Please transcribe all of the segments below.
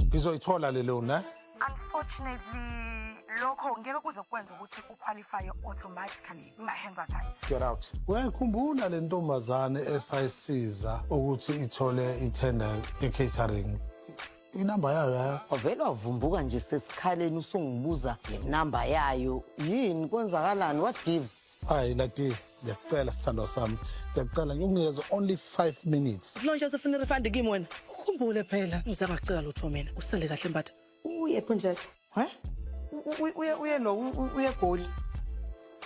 ngizoyithola le loan eh unfortunately lokho ngeke kuze kwenza ukuthi uqualifye automatically my-hands are tight get out uyayikhumbula le ntombazane esayisiza ukuthi ithole itender ye-catering inamba yayo yayo wavele wavumbuka nje sesikhaleni usungibuza ngenamba yayo yini kwenzakalani what gives hayi lati ngiyakucela sithandwa sami ngiyakucela ngikunikeze only 5 minutes lonje usefuna irefund kimi wena ukhumbule phela ngizama kucela lutho mina usale kahle mbatha uye phunjela he uye uye lo uye goli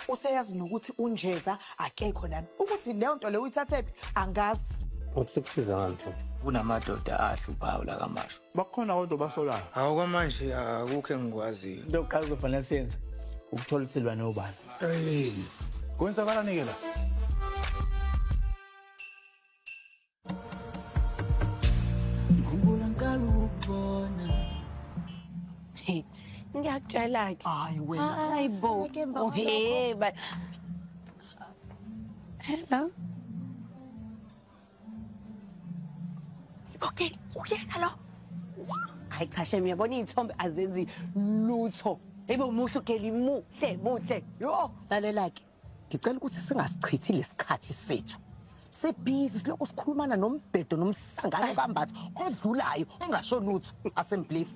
useyazi nokuthi unjeza akekho nami ukuthi leyo nto leyo uyithathephi angazi ukusikusiza ngani kunamadoda ahluphayo lakamasho bakhona kodwa basolayo hawu kwamanje akukho engikwaziyo into yokuqala kuzofanele siyenze ukuthola ukuthi silwane obani kwenzakalani-ke la ngikhumbula ngiqala ukubona ngiyakutshela-ke hayi wena hayi bo ohe ba hello Okay, uyena lo. Hayi cha shem uyabona iy'thombe azenzi lutho. Yebo muhle uGeli muhle muhle. Yho lalela-ke. Ngicela ukuthi singasichithi lesikhathi sethu. Sebhizi silokhu sikhulumana nombhedo nomsangano kambatha odlulayo ongasho lutho asembelieve.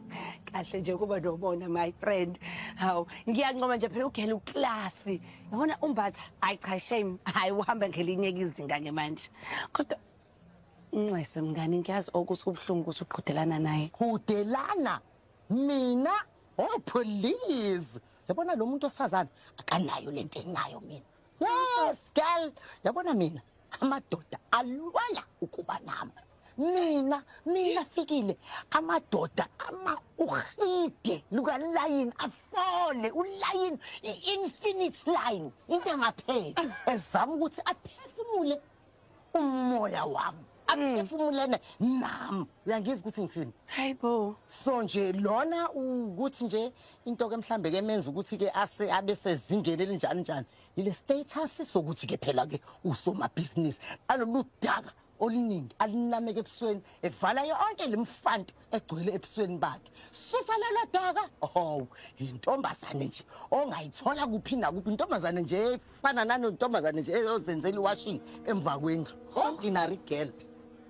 Kahle nje ukuba nomona my friend. Hawu ngiyancoma nje phela uGeli uklasi. yabona umbatha hayi cha shame hayi uhamba ngelinye izinga ke manje kodwa nxese mngani ngiyazi okuthi kubuhlungu ukuthi uqhudelana naye qhudelana mina oh please yabona lo muntu osifazane akanayo lento enayo mina yes girl yabona mina amadoda alwala ukuba nami mina mina fikile amadoda ama uhide lukalayini afole ulayini i-infinite line into engapheli ezama ukuthi aphefumule umoya wami aphefumulene nami uyangizwa ukuthi ngithini hayi bo so nje lona ukuthi nje into ke mhlambe ke menza ukuthi ke ase abe sezingeni elinjani njani Lile status sokuthi ke phela ke usomabhizinisi alolu daka oluningi alinameke ebusweni evala yonke lemfanto egcwele ebusweni bakhe susa lelo daka oh intombazane nje ongayithola kuphi nakuphi intombazane nje efana nano intombazane nje eyozenzela iwashing emva kwendlu ordinary girl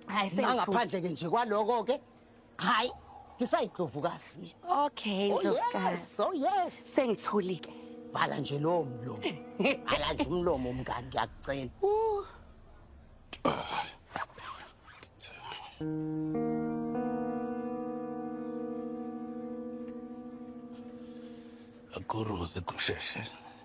hayi sengaphandle ke nje kwaloko ke hayi ngisayindlovukazi okay oh, ndlovukazi oh yes sengithulike bhala nje lowo mlomo bhala nje umlomo mngani ngiyakucela akuruzi kusheshe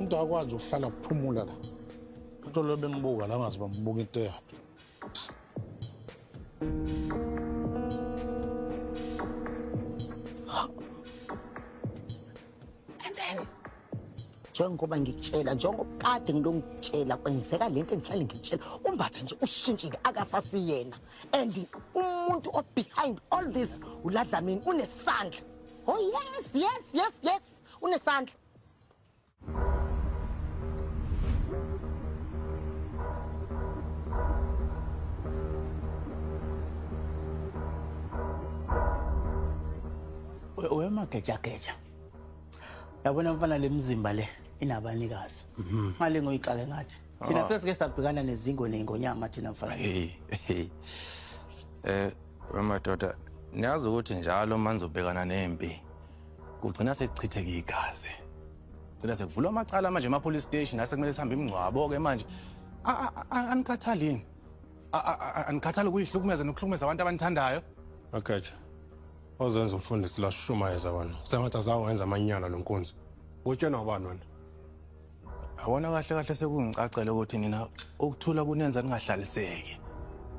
umuntu akwazi ukuhlala kuphumula la into leyo bengibuka la ngazi bambuka into eyaphi And then njengoba ngikutshela njengoba kade ngilongitshela kwenzeka le nto engihlale ngikutshela umbatha nje ushintshile akasasiyena and umuntu obehind all this uladlamini unesandla Oh yes, yes, yes, yes. Unesandla. wemagejageja yabona mfana le mzimba le inabanikazi ngale ngoyixake ngathi Thina ah. sesike sabhekana nezingo ney'ngonyama thina mfanakithi. Eh, wemadoda, niyazi ukuthi njalo uma nizobhekana nempi kugcina sekuchitheka igazi. Gcina sekuvulwa amacala manje ema-police station asekumele sihambe imingcwabo-ke manje. Anikhathalini. Anikhathali ukuyihlukumeza nokuhlukumeza abantu abanithandayo. Agatsha. Ozenza umfundisi lashumayeza wena. Sengathi azawenza amanyala lo nkunzi. Utshena ubani wena? Yabona kahle kahle sekungicacele ukuthi nina ukuthula kunenza ningahlaliseki.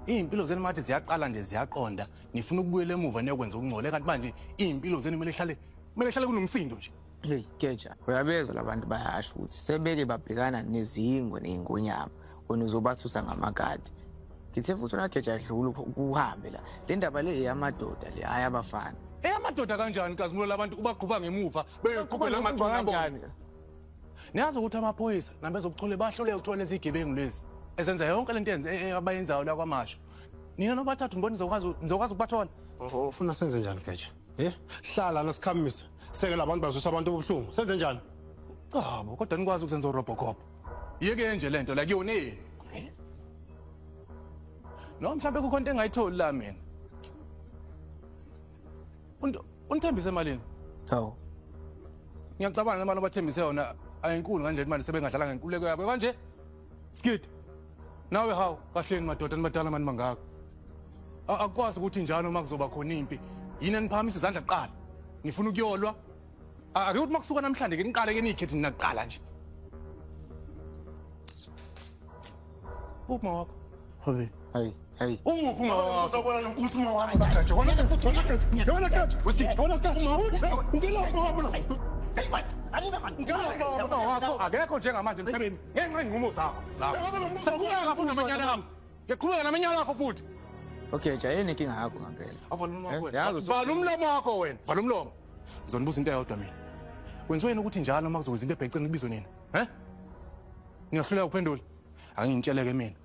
Izimpilo zenu manje ziyaqala nje ziyaqonda, nifuna ukubuyela emuva niyokwenza ukungcole kanti manje izimpilo zenu kumele ihlale kumele ihlale kunomsindo nje. Hey, keja, uyabezwa labantu bayasho ukuthi sebeke babhekana nezingwe nezingonyama, wena uzobasusa ngamakati. Ngithe futhi unageja dlula uhambe la. Le ndaba le eyamadoda le hayi abafana. Eyamadoda kanjani kazimulo labantu ubaqhuba ngemuva beyoqhubela amagcwana kanjani? Niyazi ukuthi amaphoyisa nabezokuthole bahluleke ukuthola lezi zigebengu lezi ezenza yonke lento yenze e- e- abayenzayo la kwamasho. Nina nobathathu ngibona nizokwazi nizokwazi ukubathola. Oh, ufuna senze njani geja ye hlala nosikhamise sekela abantu bazwisa abantu ubuhlungu senze njani Cabo kodwa nikwazi ukuzenza urobocop. Yeke nje lento la kuyona yini? Noma mhlawumbe kukhona into engayitholi la mina. Unithembise malini? Hawu. Ngiyacabanga nemali obathembise yona ayinkulu ngandlela imali sebengadlala ngenkuleko yabo kanje. Skid. Nawe hawu kahleni madoda nibadala mani mangaka. Akwazi ukuthi njalo uma kuzoba khona impi. Yini eniphakamisa izandla kuqala? Nifuna ukuyolwa A- Ake ukuthi makusuka namhlanje ke niqale ke niyikhethi nina kuqala nje. Uphi mawakho? Hobe. Hey, hey. Uphi mawakho? Uzobona nokuthi uma wami bagaje. Wona ke futhi wona ke. Wona ke. Westi. Wona ke. Ngilo wona. Hey, what? Anime man. Ngilo wona wakho. Akekho njengamanje emhlabeni. Ngenxa inqumo zakho. Zakho. Sekuqhubeka futhi namanyala akho. Ngiqhubeka namanyala akho futhi. Okay, jayeni inkinga yakho ngampela. Avala umlomo Eh, wena. yazi usu- Vala umlomo wakho wena. Vala umlomo. Ngizonibuza into eyodwa mina. Kwenziwa yini ukuthi njalo uma kuzokwenza into ebheceni kubizwe nina? He? Ngiyahluleka ukuphendula. Angingitsheleke mina.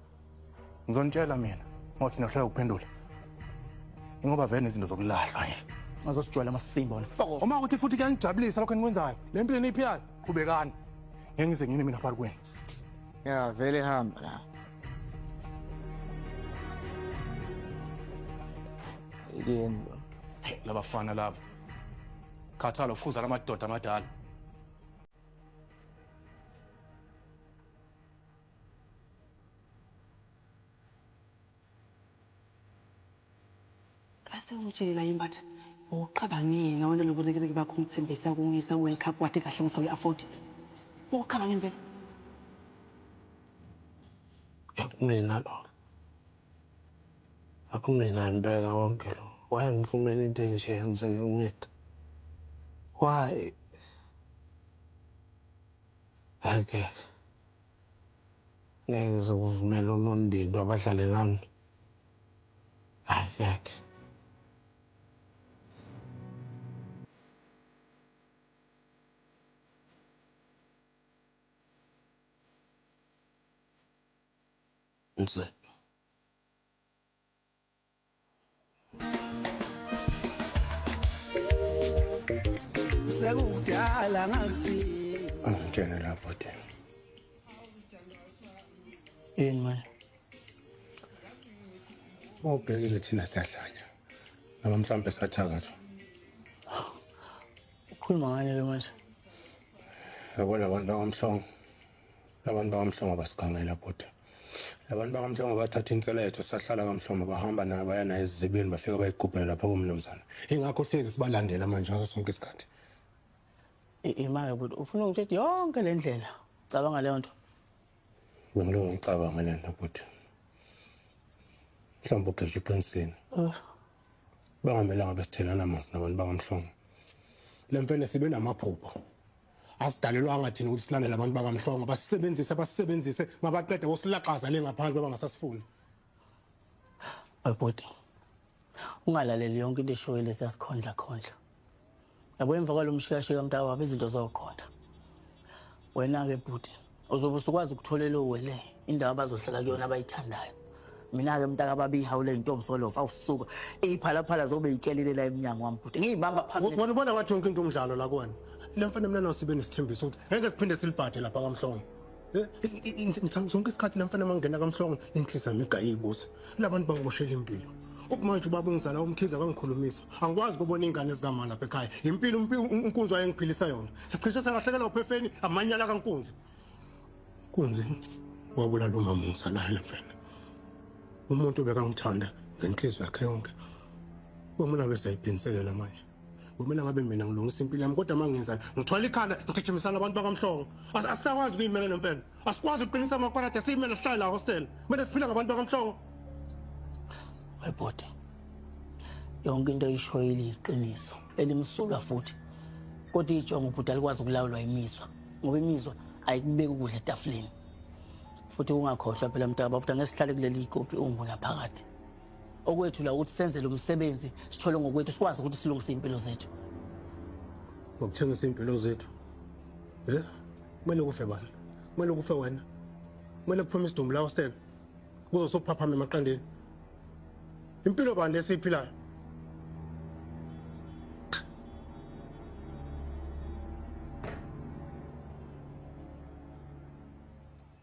Ngizonitshela mina. Ngothi ngiyahluleka ukuphendula. Ingoba vele nezinto zokulahlwa nje. Ngazosijwayela amasimba wena. Uma ukuthi futhi kuyangijabulisa lokho enikwenzayo. Le mpilo eniyiphilayo, qhubekani. Ngeke ngize ngine mina phakathi kwenu. Ya vele hamba la. Yini lo? Hey, labafana labo. Khathala ukhuza lamadoda amadala. Base ungitshele naye Mbatha wawucabangeni nawe nalobo rikiriki bakho umthembisa ukungiyisa ku world cup wathi kahle ngisawu yi afford wawucabangeni vele. Akumina lo akumina impela konke lo why angifumeni into enje yenzeke kumina why angeke Ngeke sikuvumele unondindwa abadlale ngami. Hayi ngeke. Mzila. sekudala ngakudinga ngitshene lapho de yini manje mawubhekile thina siyahlanya noma mhlawumbe sathakathwa ukhuluma ngani ke manje yabo labantu bakamhlongo labantu bakamhlongo basigangela bhuti labantu bakamhlongo bathatha inseletho sahlala kamhlongo bahamba nayo baya nayo ezizibeni bafike bayigubhele lapho kumnumzana ingakho hlezi sibalandela manje ngaso sonke isikhathi imake bhuti ufuna ungitshela yonke le ndlela cabanga leyo nto bengiloko ngicabanga le nto bhuti mhlawumbe ugeja uqinisile oh. bangamelanga besithelana masi nabantu bakamhlongo le mfene sibe namaphupho asidalelwanga thina ukuthi silandele abantu bakamhlongo basisebenzise basisebenzise mabaqede bosilaxaza le ngaphandle baba ngasasifuni abhuti ungalaleli yonke into eshoyo lesi yasikhondla khondla yabo emva kwalo mshikashika mntakwabo izinto zoqonda wena-ke bhuti uzobe usukwazi ukuthola elowele indawo abazohlala kuyona abayithandayo mina-ke mntaka babihawu le yintombi solofa awusuka iyiphalaphala zobe yikelile la emnyango wami bhuti ngiyibamba phansi Wona ubona wathi yonke into umdlalo la kuwena. Le mfana mina nayo sibe nesithembiso ukuthi ngeke siphinde silibhade lapha kamhlongo. Eh, i- i- i- ngithanda sonke isikhathi le mfana mangena kamhlongo inhliziyo yami igayibuza. labantu bangiboshela impilo ukumanje ubaba ongizala umkhize akangikhulumisa angikwazi kubona ingane zikamama lapha ekhaya impilo unkunzi wayengiphilisa yona sicishe sengahlekela uphefeni amanyala kankunzi kunzi wabulala umama ongizalayo lapha umuntu bekangithanda ngenhliziyo yakhe yonke kwamula besayiphinselela manje kumele ngabe mina ngilungisa impilo yami kodwa mangenzani ngithwala ikhanda ngigijimisana abantu bakamhlongo asisakwazi ukuyimela le mfene asikwazi ukuqinisa amakwarade siyimele sihlale la hostel kumele siphile ngabantu bakamhlongo webhode yonke into oyishoyile iqiniso elimsulwa futhi kodwa ijongo ubhuti alikwazi ukulawulwa imizwa ngoba imizwa ayikubeki ukudla etafuleni futhi ungakhohlwa phela mntaka babuthi angesihlale kuleli ikopi ungunaphakade okwethu la ukuthi senze lo msebenzi sithole ngokwethu sikwazi ukuthi silungise impilo zethu ngokuthengisa impilo zethu eh kumele kufe bani kumele kufe wena kumele kuphume isidumbu lawo stel kuzo sokuphaphama emaqandeni impilo bani lesiyiphilayo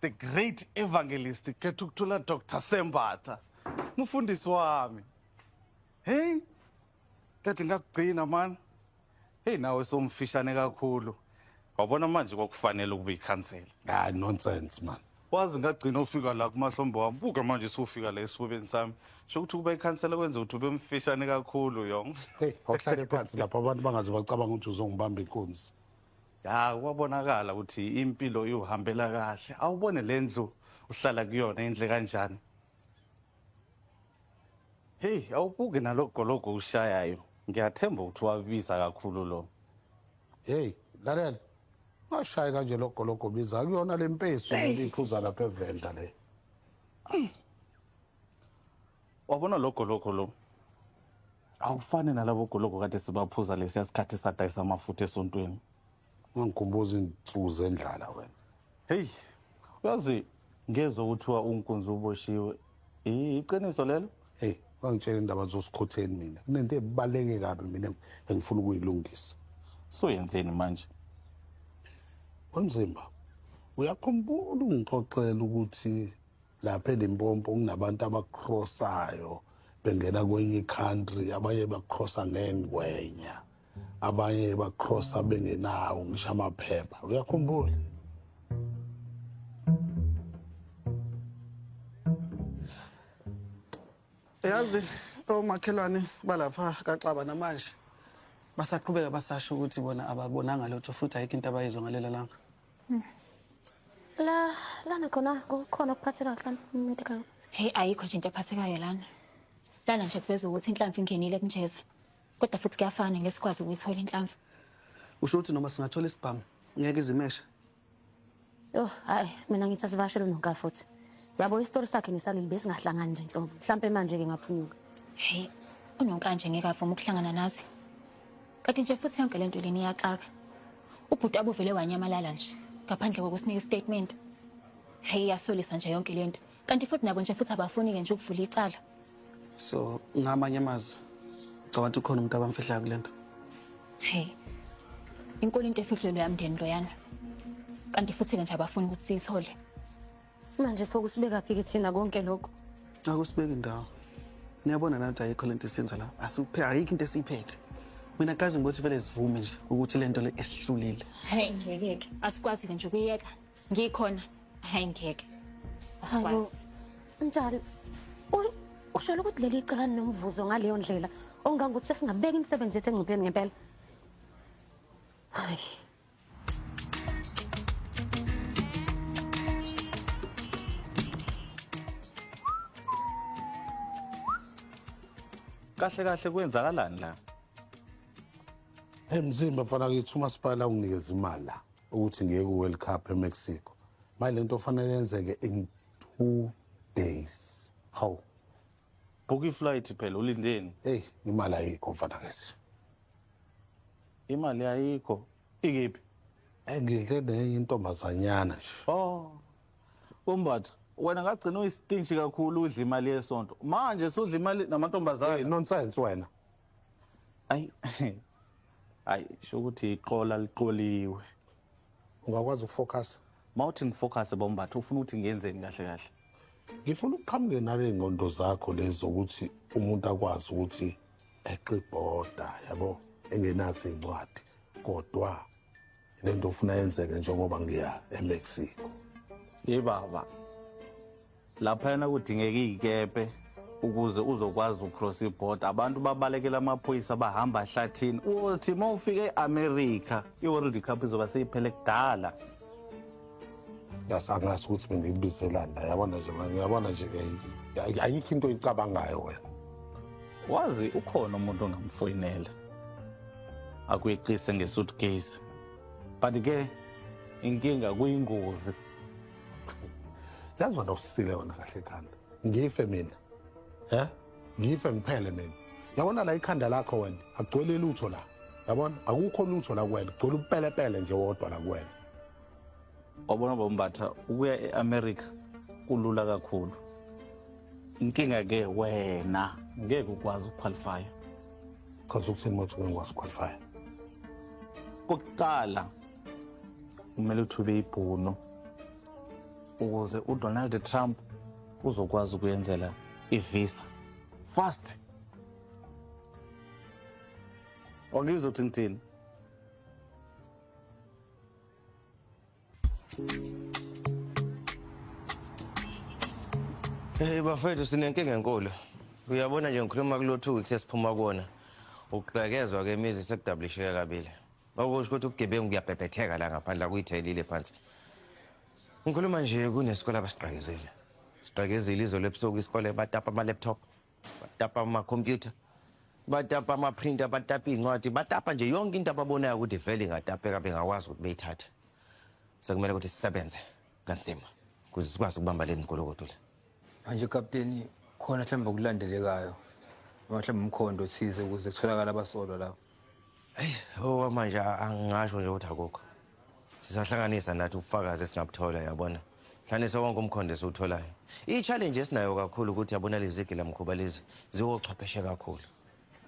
the great evangelist Kethukuthula Dr Sembatha mufundisi wami hey kade ngakugcina mani hey nawe somfishane kakhulu wabona manje kwakufanele ukube ikhansela ah nonsense man wazi ngagcina ufika la kumahlombe wami buka manje siwufika la esifubeni sami sho ukuthi ukuba ikhansela kwenza ukuthi ube mfishane kakhulu yong hey awuhlale phansi lapha abantu bangaze bacabanga ukuthi uzongibamba inkunzi ya kwabonakala ukuthi impilo iwuhambela kahle awubone le ndlu uhlala kuyona indle kanjani heyi awubuki nalogologo ushayayo ngiyathemba ukuthi wabiza kakhulu lo heyi lalela ungashayi kanje logologo biza kuyona le mpesu iphuza lapha evenda le wabona logologo lo awufane nalabo gologo kade sibaphuza lesiya sikhathi sadayisa amafutha esontweni ungangikhumbuza izinsuku zendlala wena heyi uyazi ngezwa kuthiwa unkunzi uboshiwe I- iqiniso lelo heyi ungangitshela indaba zosikhotheni mina kunento ebaluleke kabi mina engifuna ukuyilungisa soyenzeni manje wemzimba uyakhumbula ungixoxela ukuthi lapha elimpopo kunabantu abacrossayo bengena kwenye country abanye bacrossa ngengwenya abanye bacrossa bengenawo ngisho amaphepha uyakhumbula yazi omakhelwane balapha kaxaba namanje basaqhubeka basasho ukuthi bona ababonanga lutho futhi ayikho into abayizwa ngalela langa la lana khona kukhona kuphatheka kahle medical hey ayikho nje into ephathekayo lana lana nje kuveza ukuthi inhlamvu ingenile kunjeza kodwa futhi kuyafana ngeke sikwazi ukuyithola inhlamvu usho ukuthi noma singathola isibhamu ngeke izimeshe yho hayi mina ngithi asivashele unoka futhi yabo isitori sakhe nesaleli besingahlangani nje nhlobo mhlawumpe manje-ke ngaphunyuka heyi unonkanje ngeke avuma ukuhlangana nathi Kanti nje futhi yonke lento leni iyaxaka. Ubhuti abuvele wanyamalala nje ngaphandle kokusinika istatement. Hey iyasolisa nje yonke lento. Kanti futhi nabo nje futhi abafuni ke nje ukuvula icala. So ngamanye amazwi ngicabanga ukuthi ukhona umuntu abamfihlayo kulento. Hey. Inkulu into efihlelwe yamndeni loyana. Kanti futhi ke nje abafuni ukuthi siyithole. Manje pho kusibekaphi ke thina konke lokho? Akusibeki ndawo. Niyabona nathi ayikho lento esiyenza la. Asiphe ayikho into esiyiphethe. Mina kazi ngokuthi vele sivume nje ukuthi lento le isihlulile. Hey ngeke ke. Asikwazi ke nje ukuyeka. Ngikhona. Hey ngeke. Asikwazi. Njalo ushela ukuthi leli cala nomvuzo ngaleyo ndlela ongangokuthi sesingabeka imisebenzi yethu engcupheni ngempela. Hayi. kahle kahle kwenzakalani la emzimba mfana kithi umasipala unginikeza imali la ukuthi ngiye ku-world cup emexico manje le nto ofanele yenzeke in two days hawu Book iflight phela ulindeni? Hey, imali ayikho mfana ngisi. Imali ayikho. Ikephi? Eh ngidle nenye intombazanyana nje. Oh. Umbatha wena ngagcina uyistinshi kakhulu udla imali yesonto. Manje sudla imali namantombazana. Hey, nonsense wena. Ay. Ay, sho ukuthi iqola liqoliwe. ungakwazi ukufocus mawuthi ngifocus bombatha ufuna ukuthi ngiyenzeni kahle kahle ngifuna ukuqhamuke naley'ngqondo zakho lezi zokuthi umuntu akwazi ukuthi eqe ibhoda yabo engenazo iy'ncwadi kodwa le nto ofuna yenzeke njengoba ngiya emexico yebaba laphayana kudingeka iy'kepe ukuze uzokwazi ucross ibhoda abantu babalekela amaphoyisa bahamba hlathini uthi uma ufika e-amerika i-world cup izoba seyiphele kudala yasangazi ukuthi bengiyibizelani la yabona nje manje yabona nje eh, ayikho into oyicabangayo wena wazi ukhona umuntu ongamfoyinela akuyeqise ngesuitcase but ke inkinga kuyingozi yazi wena usile wena kahle khanda ngife mina he ngife ngiphele mina yabona la ikhanda lakho wena akugcwele lutho la yabona akukho lutho la kuwena kugcwele upelepele nje wodwa la kuwena wabona bombatha ukuya e-america kulula kakhulu inkinga ke wena ngeke ukwazi ukuqualifya chaza ukuthini mothi ngeke ngikwazi ukuqualifya kokuqala kumele uthube ibhunu ukuze uDonald Trump uzokwazi ukuyenzela ivisa fast ongizwa ukuthi ngithini Hey bafethu sinenkinga enkulu. Uyabona nje ngikhuluma kulothu ukuthi sesiphuma kuona. Ukuqekezwa kemizi sekudablisheke kabili. Okusho ukuthi ubugebengu kuyabhebhetheka la ngaphandle akuyithelile phansi. Ngikhuluma nje kunesikole abasigqakezile. Sigqakezile izolo ebusuku isikole batapa ama-laptop, batapa ama-computer, batapa ama-printer, batapa iy'ncwadi, batapa nje yonke into ababonayo ukuthi vele ingatapeka bengakwazi ukuthi beyithathe. Sekumele ukuthi sisebenze kanzima ukuze sikwazi ukubamba le migolokodo le. manje kapteni khona mhlawumbe okulandelekayo noma mhlawumbe umkhondo othize ukuze kutholakale abasolwa lapho eyi owa manje a- angingasho nje ukuthi akukho sisahlanganisa nathi ubufakazi esingabuthola yabona hlanganisa wonke umkhondo esiwutholayo i-challenge esinayo kakhulu ukuthi yabona lezi gilamkhuba lezi ziwochwepheshe kakhulu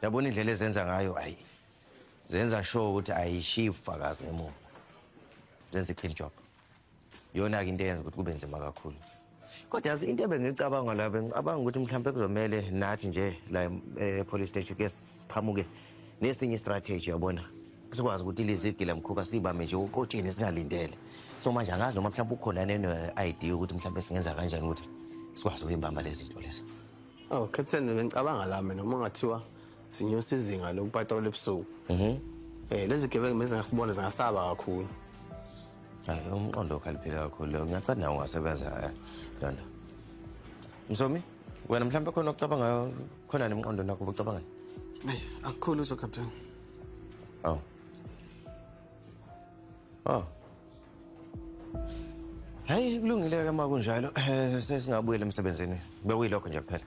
yabona indlela ezenza ngayo ayi zenza sure ukuthi ayishiyi ubufakazi ngemuva zenza i-clean job yona-ke into eyenza ukuthi kube nzima kakhulu kodwa yazi into ebengicabanga la bengicabanga ukuthi mhlawumpe kuzomele nathi nje la e-police eh, station ke siphamuke nesinye istrategy yabona sikwazi ukuthi lizigile mkhuka sibame nje uqotsheni singalindele so manje angazi noma mhlawumpe ukhona neno-idea yokuthi mhlawumpe singenza kanjani ukuthi sikwazi ukuyibamba lezi zinto lezo aw oh, captain bengicabanga la mina uma ngathiwa sinyusa izinga lokupatrola ebusuku mhm. eh lezi gebengu mezi ngasibona zingasaba kakhulu hayi umqondo okhaliphile kakhulu leyo ngiyacathi nawo ungasebenza eh, lona msomi wena mhlawumbe khona okucabangayo khona nemqondo nakho ubucabangani eyi akukhulu so captain oh oh Hayi kulungile ke uma kunjalo eh, sesingabuyela emsebenzini bekuyilokho nje kuphela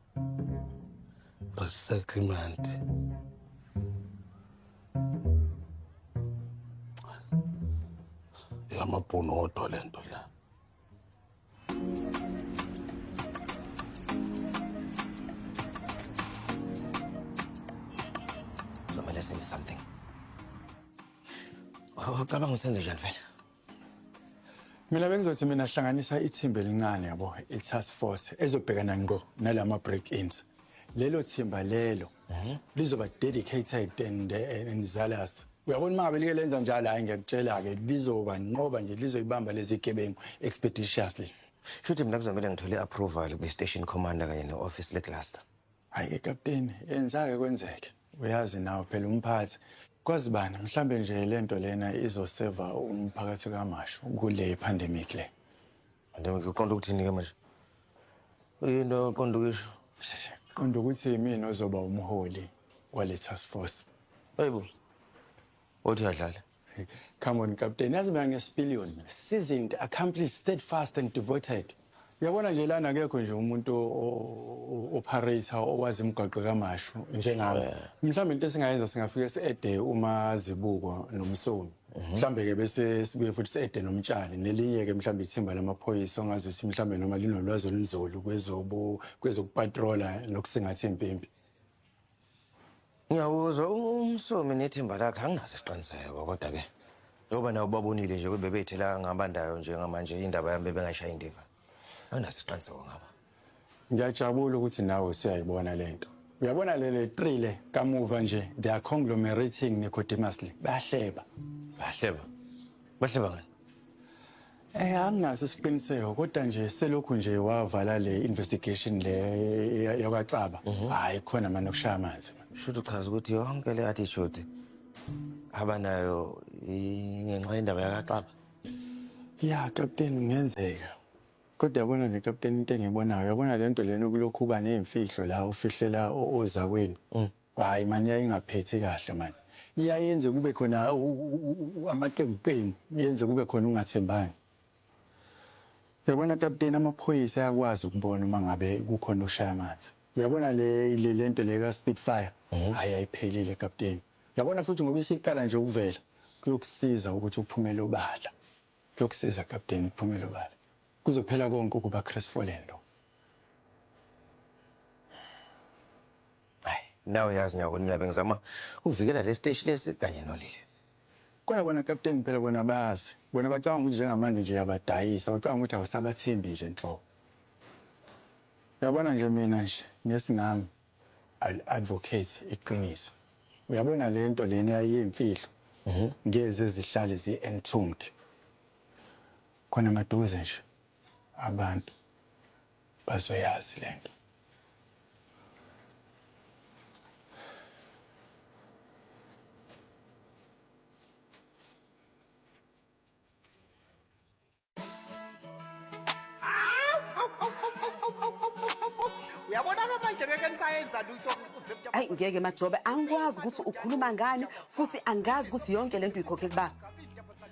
resettlement yamabhunu odwa le nto la somele senze something ucabanga usenze njani vele mina bengizothi mina hlanganisa ithimba elincane yabo i-task force ezobhekana ngqo nalama break-ins lelo thimba lelo mhm. lizoba dedicated and, eh, and zealous uyabona uma ngabe like lenza njalo hayi ngiyakutshela-ke lizoba nqoba nje lizoyibamba lezi gebengu expeditiously shuthi mina kuzomele ngithole i-approval kwi-station commander kanye ne-office lecluster Hayi-ke kapteni, yenzake kwenzeke. Uyazi nawe phela umphathi. Kwazi bani, mhlambe nje le nto lena izoseva umphakathi kamashu kule pandemic le. Pandemic uqonda ukuthini-ke manje? Uyinto oqonda ukuyisho. Qonda ukuthi yimina ozoba umholi wale task force. Hayibo. Othi uyadlala. Come on, Captain. Yazi mina ngesipiliyoni. Seasoned, accomplished, steadfast and devoted. Yabona nje lana akekho nje umuntu operator owazi imigwaqo kamashu njengami. Oh, Mhlawumbe into esingayenza singafike siede uma zibuko nomsulu. Mhm. Mhlawumbe ke bese sibuye futhi siede nomtshali nelinye ke mhlawumbe ithimba lamaphoyisa ongazi ukuthi mhlawumbe noma linolwazi olunzulu kwezobu kwezokupatrola nokusingatha impimpi. Ngiyawuzwa umsomi nethemba lakhe anginaso isiqiniseko kodwa ke njengoba nawo babonile nje ukuthi bebeyithela ngabandayo njengamanje indaba yami bebengayishayi indiva anginaso isiqiniseko ngaba ngiyajabula ukuthi nawe usuyayibona le nto uyabona lele tri le kamuva nje they are conglomerating necodimously bayahleba bayahleba bahleba ngani Eh anginaso isiqiniseko kodwa nje selokhu nje wavala le investigation le yakwaXaba mhm. hayi khona manje ukushaya amanzi shuthi uchaza ukuthi yonke le attitude abanayo ngenxa yendaba yakaXaba ya captain ngenzeka kodwa yabona nje captain into engibonayo yabona lento lena ukulokhu uba nezimfihlo la ufihlela ozakweni mm. Hayi mani yayingaphethi kahle mani iyayenze kube khona amaqembu qembu yenze kube khona ukungathembani yabona kaputeni amaphoyisa ayakwazi ukubona uma ngabe kukhona oshaya amanzi uyabona le le lento le ka speed fire hayi ayiphelile kaputeni yabona futhi ngoba isiqala nje ukuvela kuyokusiza ukuthi uphumele obala kuyokusiza kaputeni uphumele obala kuzophela konke ukuba crestfallen lo. Ay nawe yazi nyako nina bengizama ukuvikela lesiteshi lesi kanye nolile. Kodwa bona Captain phela bona bayazi bona bacabanga ukuthi njengamanje nje uyabadayisa bacabanga ukuthi awusabathembi nje nhlobo uyabona nje mina nje ngesingami I'll advocate iqiniso uyabona lento lena eyayiyimfihlo ngeze zihlale zi entombed khona maduze nje abantu bazoyazi lento. Uyabona-ke manje ngeke nisayenza lutho ukuze mntu- Ayi ngeke Majobe angikwazi ukuthi ukhuluma ngani futhi angazi ukuthi yonke lento uyikhokhe kubaba.